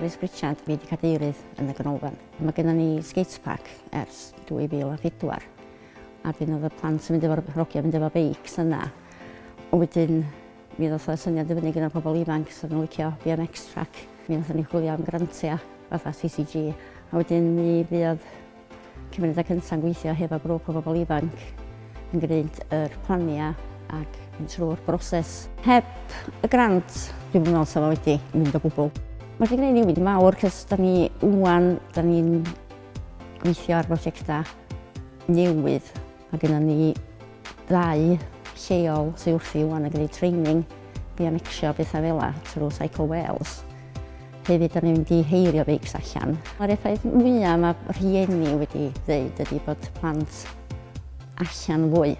Carys Pritchard wedi cadeirydd yn y ganolfan. Mae gennym ni skatepark ers 2004 a dyn oedd y plant yn mynd efo'r hogiau mynd efo beics yna. Ond wedyn mi ddoth y syniad i fyny gyda'r pobl ifanc sydd yn licio BMX track. Mi ddoth ni chwilio am grantiau fatha CCG a wedyn mi fuodd Cymunedau Cynta' yn gweithio hefo grŵp o bobl ifanc yn gwneud yr planiau ac mynd trwy'r broses. Heb y grant, dwi'm yn meddwl 'sa fo wedi mynd o gwbl. Mae wedi gwneud newid mawr cos da ni ŵan, da ni'n gweithio ar brosiectau newydd. Mae gennym ni ddau lleol sydd wrthi rŵan yn gwneud training i anecsio pethau fel yna trwy Cycle Wales. Hefyd, da ni'n mynd i heirio beics allan. Mae'r effaith mwyaf mae rhieni wedi dweud ydy bod plant allan fwy.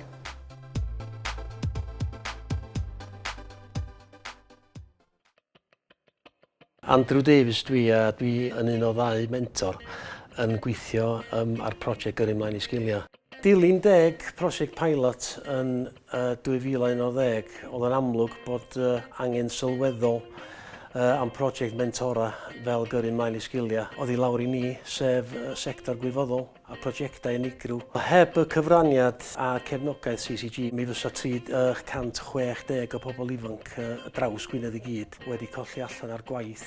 Andrew Davies dw i a dw i yn un o ddau mentor yn gweithio um, ar prosiect Gyrru Mlaen i Sgiliau. Dilyn deg prosiect pilot yn uh, 2011, oedd yn amlwg bod uh, angen sylweddol uh, am prosiect mentora fel Gyrru Mlaen i Sgiliau oedd i lawr i ni, sef uh, sector gwirfoddol. a phrosiectau unigryw. Heb y cyfraniad a cefnogaeth CCG, mi fysa 360 o bobl ifanc ar draws Gwynedd i gyd wedi colli allan ar gwaith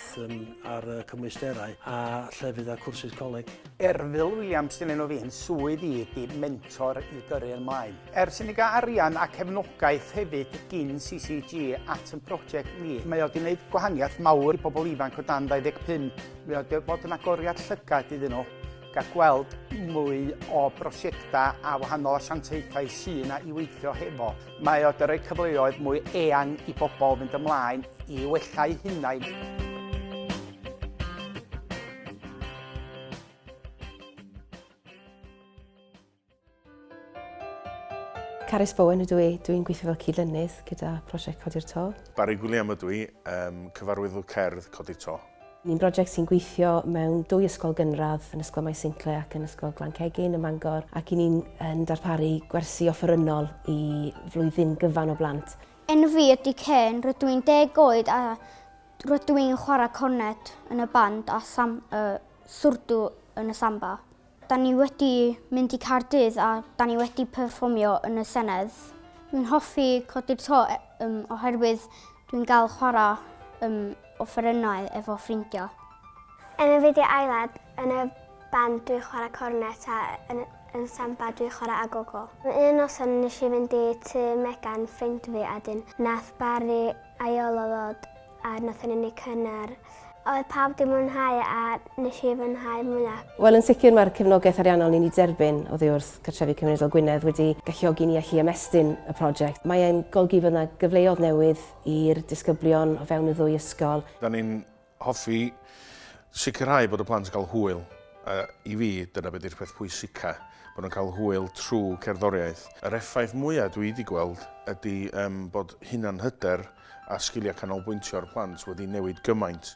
ar y cymwysterau a llefydd a cwrsus coleg. Erfil Williams sy'n enw fi'n swydd i ydy mentor i gyrru yn mlaen. Ers i ni gael arian a cefnogaeth hefyd gin CCG at yn prosiect ni, mae o wedi gwneud gwahaniaeth mawr i bobl ifanc o dan 25, mae o wedi bod yn agoriad llygad iddyn nhw. Gall gweld mwy o brosiectau a wahanol asiantaethau sy'n yna i weithio hefo. Mae o 'di rhoi cyfleoedd mwy eang i bobl fynd ymlaen i wella'u hunain. Carys Bowen ydw i, dwi'n gweithio fel cyd-lennydd gyda prosiect Codi'r To. Barry Gwilliam ydw i, um, cyfarwyddwr cerdd Codi'r To. Ni'n brosiect sy'n gweithio mewn dwy ysgol gynradd, yn Ysgol Maes Sincle ac yn Ysgol Glan Cegin ym Mangor, ac i ni'n yn darparu gwersi offerynnol i flwyddyn gyfan o blant. Enw fi ydy Ken, rydw i'n deg oed a rydw i'n chwarae cornet yn y band a sam, uh, swrdw yn y samba. Da ni wedi mynd i Caerdydd a da ni wedi perfformio yn y Senedd. Dwi'n hoffi codi'r to um, oherwydd dwi'n gael chwarae um, offerynnau efo ffrindiau. Yn y fideo aelad, yn y band dwi'n chwarae cornet a yn, yn samba dwi'n chwarae agogo. Un noson nes i fynd i tu Megan ffrind fi a dyn nath Barry aelod a wnaethon ni wneud cynnar. Oedd pawb wedi mwynhau a nes i fwynhau mwyaf. Wel, yn sicr mae'r cefnogaeth ariannol ni'n ei derbyn oddi wrth Cartrefi Cymunedol Gwynedd wedi galluogi ni allu ymestyn y prosiect. Mae'n golygu fod yna gyfleodd newydd i'r disgyblion o fewn y ddwy ysgol. Da ni'n Hoffi sicrhau bod y plant yn cael hwyl, a i fi, dyna be di'r peth pwysica, bod nhw'n cael hwyl trw cerddoriaeth. Yr effaith mwya dwi di gweld ydi yym bod hunanhyder a sgilia canolbwyntio'r plant wedi newid gymaint.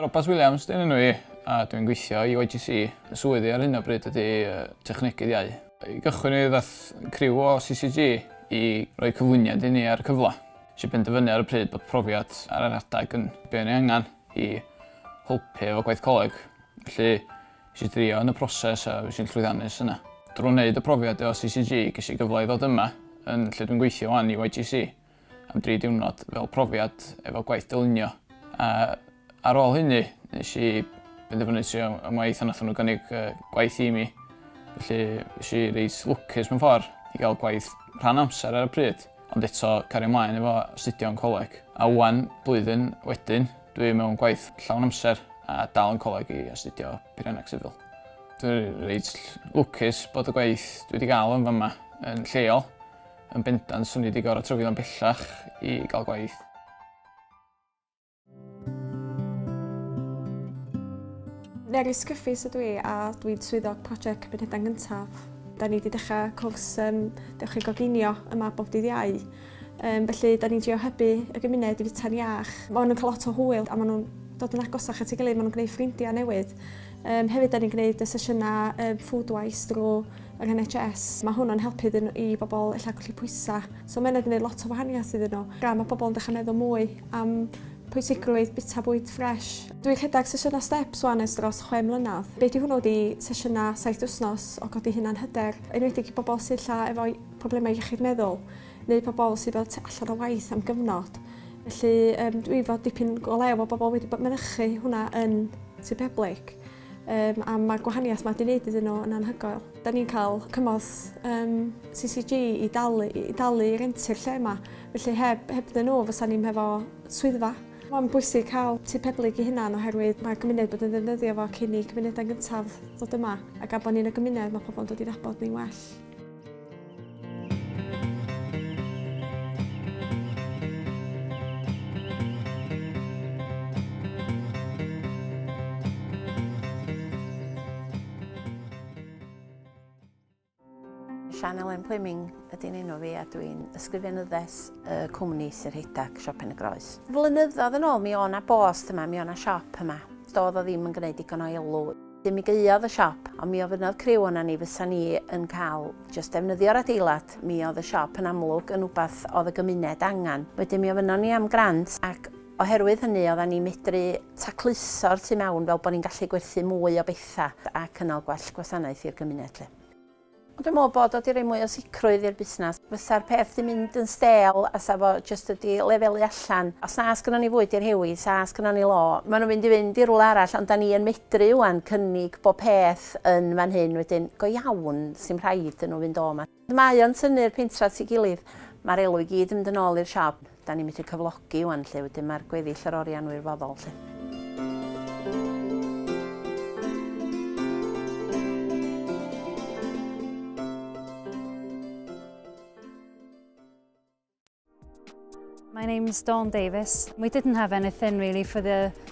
Robat Williams dyn enw i a dwi'n gweithio i YGC. Fy swydd i ar hyn o bryd ydy Technegydd Iau. I gychwyn ni ddaeth criw o CCG i roi cyflwyniad i ni ar y cyfle. Nes i benderfynu ar y pryd bod profiad ar yr adeg yn be o'n i angen i helpu efo gwaith coleg. Felly nes i drio yn y proses a fues i'n llwyddiannus yna. Drwy wneud y profiad efo CCG ges i gyfle i ddod yma yn lle dwi'n gweithio 'wan i YGC. am dri diwrnod fel profiad efo gwaith dylunio. A ar ôl hynny, nes i benderfynu trio am waith a nath nhw gynnig gwaith i mi. Felly, nes i reit lwcus mewn ffordd i gael gwaith rhan amser ar y pryd, ond eto cario ymlaen efo astudio yn coleg. A ŵan, blwyddyn wedyn, dwi mewn gwaith llawn amser a dal yn coleg i astudio Peirianneg Sifil. Dwi'n reit lwcus bod y gwaith dwi wedi gael yn fama yn lleol, Yn bendant, swn i wedi gorfod tyfu fan bellach i gael gwaith. Neri Sgyffus ydw i a dwi'n swyddog prosiect Cymunedau Gyntaf. Da ni wedi dechrau cwrs um, Dewch i Goginio yma bob dydd iau. Um, felly, da ni'n drio hybu y gymuned i fita'n iach. Mae nhw'n cael lot o hwyl a maen nhw'n dod yn agos â chi gilydd, maen nhw'n gwneud ffrindiau newydd. Um, hefyd, da ni'n gwneud y sesiynau um, food wise drwy yng NHS. Mae hwn yn helpu iddyn nhw, i bobl ella colli pwysau. So mae hynna wedi gwneud lot o wahaniaeth iddyn nhw. Gan mae pobl yn dechrau meddwl mwy am pwysigrwydd bita bwyd ffres. Dwi'n rhedeg sesiynau steps wan ers dros chwe mlynedd. Be di hwnnw ydi sesiynau saith wythnos o godi hunan hyder, enwedig i bobl sydd ella efo problemau iechyd meddwl neu pobl sydd fel allan o waith am gyfnod. Felly um, dwi fod dipyn o lew o bobl wedi bod mynychu hwnna yn Sir Peblig. Yym, a mae'r gwahaniaeth mae 'di wneud iddyn nhw yn anhygoel. Da ni'n cael cymorth um, CCG i dalu, i dalu i rentu'r lle yma, felly heb, heb dyn nhw fysa ni'n hefo swyddfa. Mae'n bwysig cael tu peblyg i hunan oherwydd mae gymuned bod yn ddefnyddio fo cyn i cymunedau gyntaf ddod yma ac a bod ni'n y gymuned mae pobl yn dod i'n abod ni'n well. Sian Elen Pliming ydy'n enw fi a dwi'n ysgrifenyddes y cwmni Sir Heidag, Siop Pen y Groes. Flynyddoedd yn ôl mi o'na bost yma, mi o'na siop yma. Doedd o ddim yn gwneud digon o elw. Mi gaeodd y siop, ond mi ofynnodd criw ona ni fysa ni yn cael jyst defnyddio'r adeilad, mi oedd y siop yn amlwg yn wbath oedd y gymuned angen. Wedyn mi ofynnon ni am grant ac oherwydd hynny odda ni'n medru tacluso'r tu mewn fel bo' ni'n gallu gwerthu mwy o betha ac yno gwell gwasanaeth i'r gymuned 'lly. Ond dwi'n meddwl bod o 'di rhoi mwy o sicrwydd i'r busnes. Fysa'r peth 'di mynd yn stêl a 'sa fo jyst wedi lefelu allan. Os na sgynnon ni fwyd i rhewi, 'sa sgynnon ni law. Maen nhw'n mynd i fynd i rywle arall, ond 'dan ni yn medru rŵan cynnig bob peth yn fan hyn, wedyn go iawn, 'sdim rhaid iddyn nhw fynd o 'ma. Mae o'n tynnu'r pentre at ei gilydd. Ma'r elw i gyd yn mynd yn ôl i'r siop. Da ni methu cyflogi wan 'lly, wedyn ma'r gweddill yr orian wirfoddol 'lly. My name's Dawn Davis. We didn't have anything really for the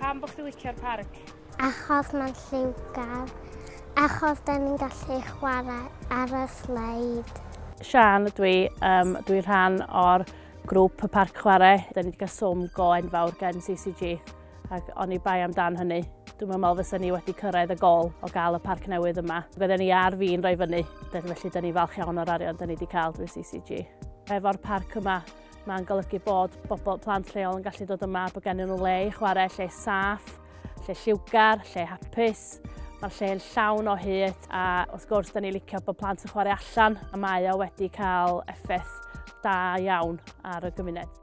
Pam bod chdi licio'r parc? Achos mae'n lliwgar. Achos da ni'n gallu chwarae ar y sleid. Sian ydw i. Um, dwi'n rhan o'r grŵp y parc chwarae. Da ni wedi cael swm go enfawr gen CCG ac o'n i bai amdan hynny. Dwi'n meddwl fysa ni wedi cyrraedd y gol o gael y parc newydd yma. Fydden ni ar fi'n rhoi fyny, felly da ni falch iawn o'r arian da ni wedi cael drwy CCG. Efo'r parc yma, Mae'n golygu bod bobl plant lleol yn gallu dod yma, bod gen nhw le i chwarae, lle saff, lle lliwgar, lle hapus. Mae'r lle yn llawn o hyd a wrth gwrs da ni licio bod plant yn chwarae allan a mae o wedi cael effaith da iawn ar y gymuned.